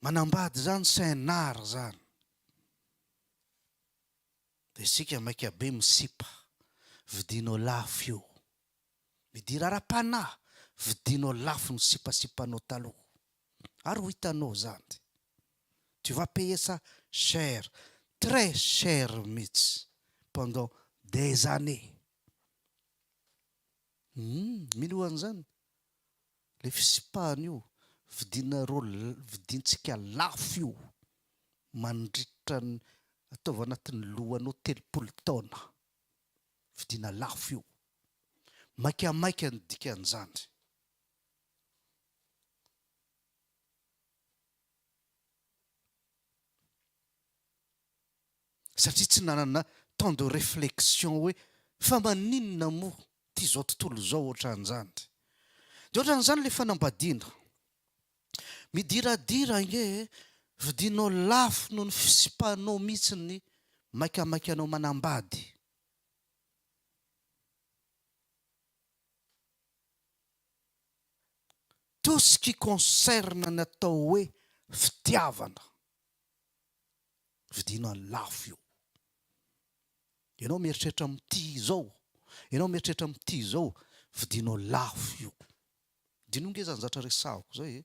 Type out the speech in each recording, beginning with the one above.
Manambady izany CNR izany. Dia isika maika be misipa, vidinao lafo io. Midira ara-panahy, vidinao lafo ny sipasipanao taloha. Ary ho hitanao izany. tu vas payer ça cher, très cher mihitsy pendant des années. Humm mino an'izany? Ilay fisipahana io, vidinareo vidintsika lafo io mandritra ny ataovy anatin'ny lohanao telopolo taona, vidina lafo io. Maika maika ny dikan'izany. Satria tsy nanana temps de réflexion hoe fa maninona moa ity izao tontolo izao ohatran'izany. Dia ohatran'izany ilay fanambadiana. Midiradira ange e, vidianao lafo noho ny fisipanao mihitsy ny maikamaika anao manambady. tout ce qui concerne ny atao hoe fitiavana vidina lafo io ianao mieritreritra mitia izao ianao mieritreritra mitia izao vidinao lafo io dino nge zany zatra resahako zay e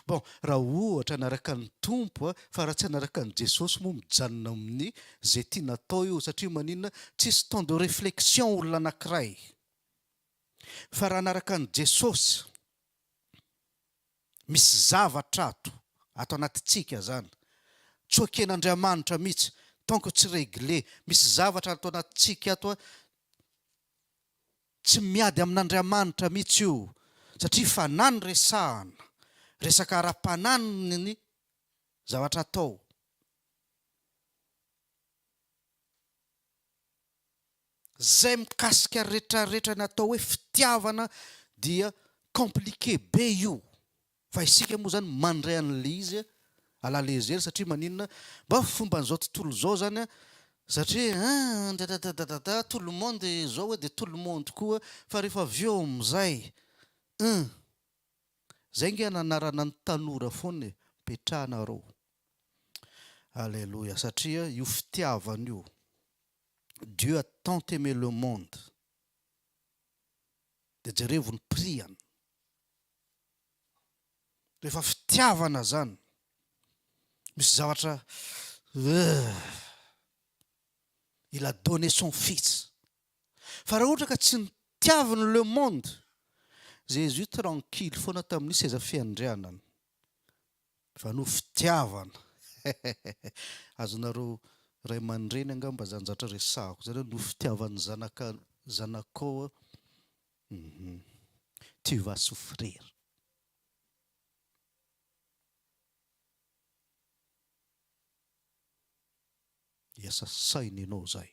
bon raha ohatra anaraka ny Tompo a fa raha tsy anaraka ny Jesosy moa mijanona amin'ny ze tiana atao io satria maninona tsisy temps de reflexion olona anakiray Fa raha anaraka an'i Jesosy, misy zavatra ato, ato anatintsika zany, tsy oken'Andriamanitra mihitsy, tant que tsy regle, misy zavatra ato anatintsika ato, tsy miady amin'Andriamanitra mihitsy io, satria fanahy no resahana, resaka ara-panahy ny zavatra atao. Zay mikasika retraretra natao hoe fitiavana dia compliqué be io fa isika moa zany mandray anle izy à la légère satria maninona mba fomban'izao tontolo zao zany an satria an dadadadadada tout le monde zao hoe de tout le monde koa fa rehefa avy eo amizay un Zay nge ananarana ny tanora foana e, petrahanareo. Aleloia satria io fitiavana io Dieu a tant aime le monde de jerevo ny prix an. Rehefa fitiavana zany misy zavatra euh il a donne son fils. Fa raha ohatra ka tsy nitiaviny le monde, Jésus tranquille foana tamin'ny seza fiandrianany. Fa noho fitiavana, azonareo ray aman-dreny angamba zany zatra resahako zany hoe noho fitiavan'ny zanaka zanakao uhum tu vas souffrir. Hiasa saina ianao zay.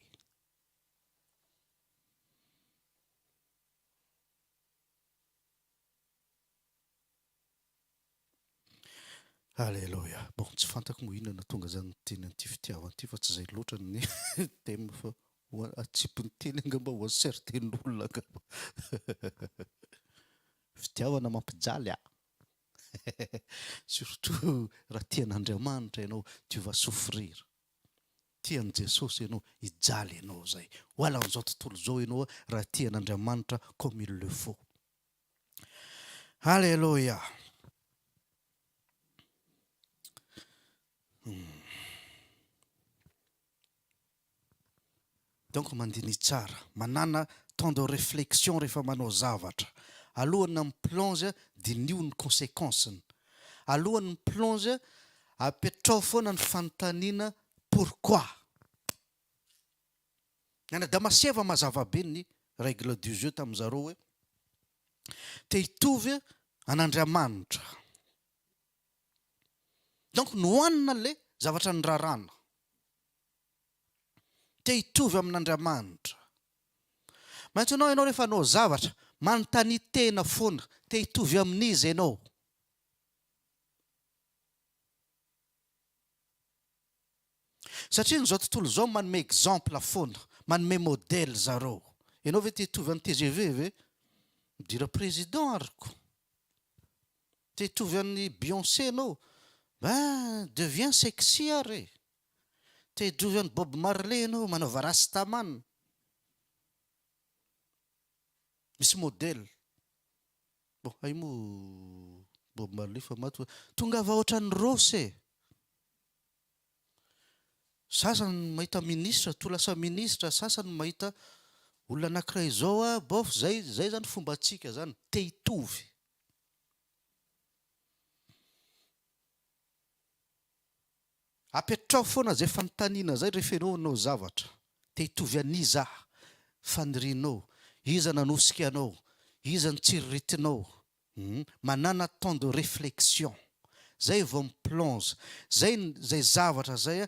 Aleloia. Bon, tsy fantako moa inona no tonga izany ny teny an'ity fitiavana ity fa tsy izay loatra ny thème fa ho a- atsipin'ny teny angamba ho an'ny certain olona angamba. Fitiavana mampijaly a! Surtout raha tia an'Andriamanitra ianao, tu vas souffrir. Tia an'i Jesosy ianao, hijaly ianao izay. Ho alan'izao tontolo izao ianao raha tia an'Andriamanitra comme il le faut. Alléluia. Hmm. Donc mandiniha tsara, manana temps de réflexion rehefa manao zavatra, alohany mi plonge diniho ny consequence-ny, alohany mi plonge apetraho foana ny fanontaniana pourquoi? Ny any Adamaseva mazava be ny règle du jeu tamin-dry zareo hoe te hitovy an' Andriamanitra, donc nohanina ilay zavatra niraràna. te hitovy amin'Andramanitra. Maintsy anao ianao rehefa anao zavatra manontania tena foana te hitovy amin'izy ianao. Satria ny zao tontolo zao manome exemple foana, manome modèle zareo. Ianao ve te hitovy an'i tgv ve? Midira président ary ko. Te hitovy an'i Beyoncé ianao? Ben deviens sexy ary e. Te jovy an'i Bob Marley ianao manaova rasta man. Misy model. Bon hay moa Bob Marley efa maty fa tongava ohatran'i Rossy e. Sasany mahita ministra toa lasa ministra, sasany mahita olona anakiray izao a bof zay zay zany fombantsika zany te hitovy. Apetraho foana zay fanontaniana zay rehefa enao hanao zavatra. Te hitovy an'iza fanirianao? Iza nanosika anao? Iza no tsiriritinao? Hum. Manàna temps de réflexion. Zay vao mi plonge. Zay zay zavatra zay a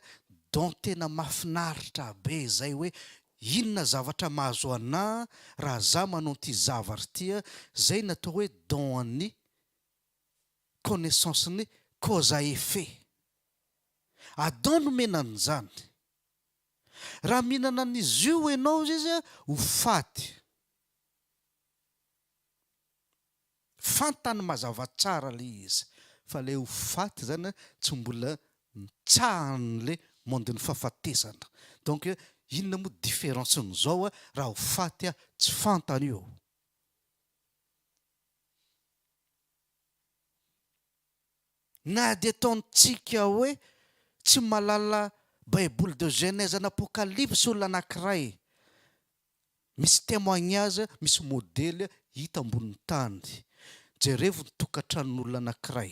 dont tena mafinaritra be zay hoe inona zavatra mahazo anah raha zah manao an'ity zavatra ity a. Zay ny atao hoe dont an'ny connaissance ny cause à effet. Adam nomena an'izany. Raha mihinana an'izy io ianao izay izy ho faty. Fantany mazava tsara ilay izy fa ilay ho faty izany tsy mbola nitsahan'ilay monde-n'ny fahafatesana. Donc inona moa différence-n'izao raha ho faty aho tsy fantany io. Na dia ataontsika hoe tsy mahalala Baiboly de Genèse and Apocalypse olona anankiray, misy témoignage, misy modely hita ambonin'ny tany. Jerevo ny tokantranon'olona anankiray.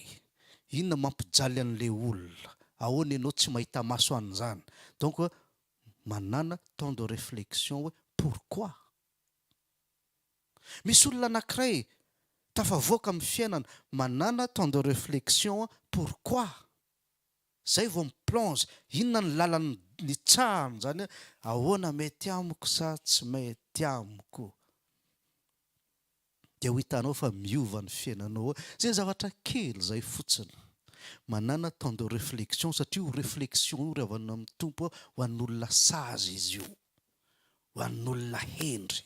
Inona mampijaly an'ilay olona? Ahoana ianao tsy mahita maso an'izany? Donc manana temps de réflexion hoe pourquoi? Misy olona anakiray tafavoaka amin'ny fiainana manana temps de reflexion pourquoi? Zay vao mi plonge inona ny lalan'ny nitsahany zany ahoana mety amiko sa tsy mety amiko? Dia ho hitanao fa miova ny fiainanao ao zay zavatra kely zay fotsiny manana temps de reflexion satria io reflexion io ry havana amin'ny Tompo a ho an'olona sazy izy io ho an'olona hendry.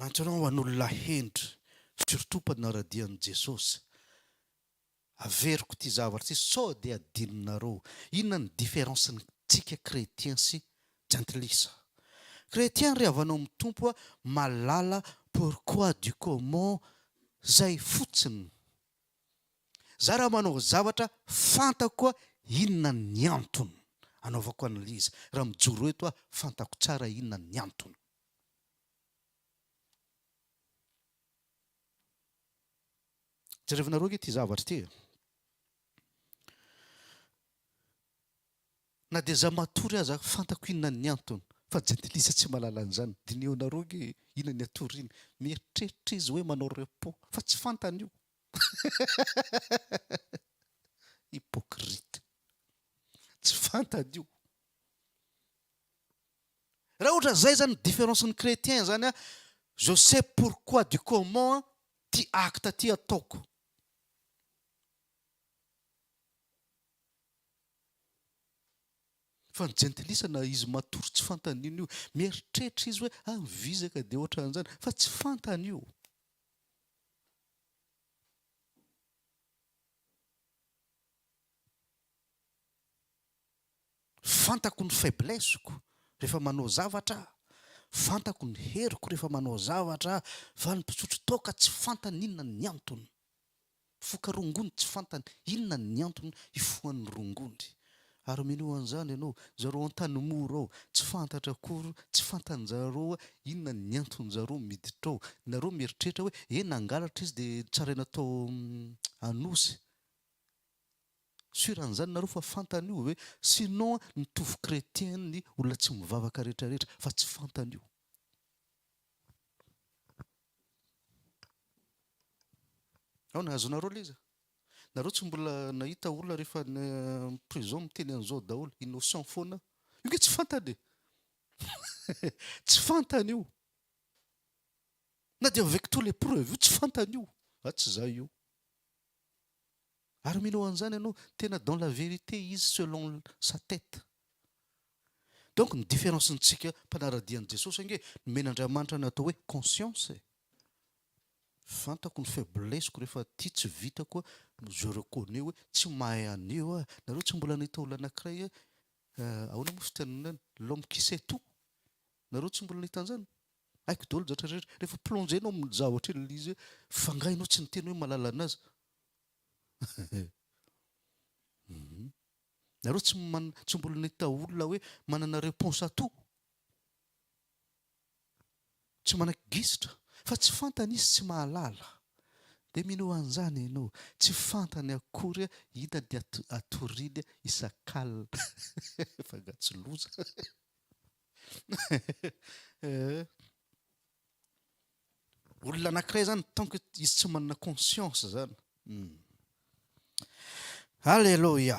Nantsoina ho an'olona hendry, firotopa ny naradian'i Jesosy. Averiko ity zavatra ity sao dia adinonareo. Inona ny différence ny tsika chrétien sy jentilisa? Chrétien ry havanao amin'ny Tompo a, mahalala pourquoi du comment zay fotsiny Za raha manao zavatra fantako koa inona ny antony anaovako analyse raha mijoro eto aho fantako tsara inona ny antony. Jerevinareo ange ity zavatra ity e. Na dia za matory aza fantako inona ny antony fa jentilisa tsy mahalala an'izany, diniho nareo nge inona ny atoriny, mieritreritra izy hoe manao repos fa tsy fantany io hypocrite tsy fantany io. Raha ohatra zay zany ny difference ny chretien zany an, je sais pourquoi du comment an, ty acte ty ataoko. Fa ny jentilisa na izy matory tsy fantany io io. Mieritreritra izy hoe ah mivizaka dia ohatran'izany fa tsy fantany io. Fantako ny faiblesse-ko rehefa manao zavatra aho. Fantako ny heriko rehefa manao zavatra aho. Fa ny mpisotro toaka tsy fantany inona ny antony. Mifoka rongony tsy fantany inona ny antony hifohany rongony. Ary minoa an'izany ianao, zareo Antanimora ao tsy fantatra akory, tsy fantanjareo hoe inona ny antonjareo miditra ao. Nareo mieritreritra hoe he nangalatra izy dia notsaraina tao Anosy. Sur an'izany nareo fa fantany io ve? Sinon mitovy chretien ny olona tsy mivavaka rehetra rehetra fa tsy fantany io. Ao nahazoanareo le izy? Nareo tsy mbola nahita olona rehefa any prison miteny an'izao daholo, innocent foana. Io nge tsy fantany e. tsy fantany io. Na dia avec tous les preuves io tsy fantany io. Fa tsy za io. Ary mino an'izany ianao, tena dans la vérité izy selon sa tête. Donc ny différence-ntsika mpanara-dia an'i Jesosy ange nomen'Andriamanitra ny atao hoe conscience e! Fantako ny faiblesse-ko rehefa aty tsy vita koa no je reconnais hoe tsy mahay an'io aho. Nareo tsy mbola nahita olona anankiray hoe ahoana moa fitenenana? L'homme qui sait tout? Nareo tsy mbola nahita anzany? Haiko daholo zatra rehetra. Rehefa plongé nao amin'ny zava ohatry ny izy hoe fa nga enao tsy niteny hoe malala anazy? Nareo tsy man tsy mbola nahita olona hoe manana réponse à tout? Tsy manaky gisitra fa tsy fantany izy tsy mahalala. Dia mino anzany enao. Tsy fantany akory hita dia atoriny isak'alina. Fa nga tsy loza. Olona anankiray zany tant que izy tsy manana conscience zany. Hmm. Alléluia.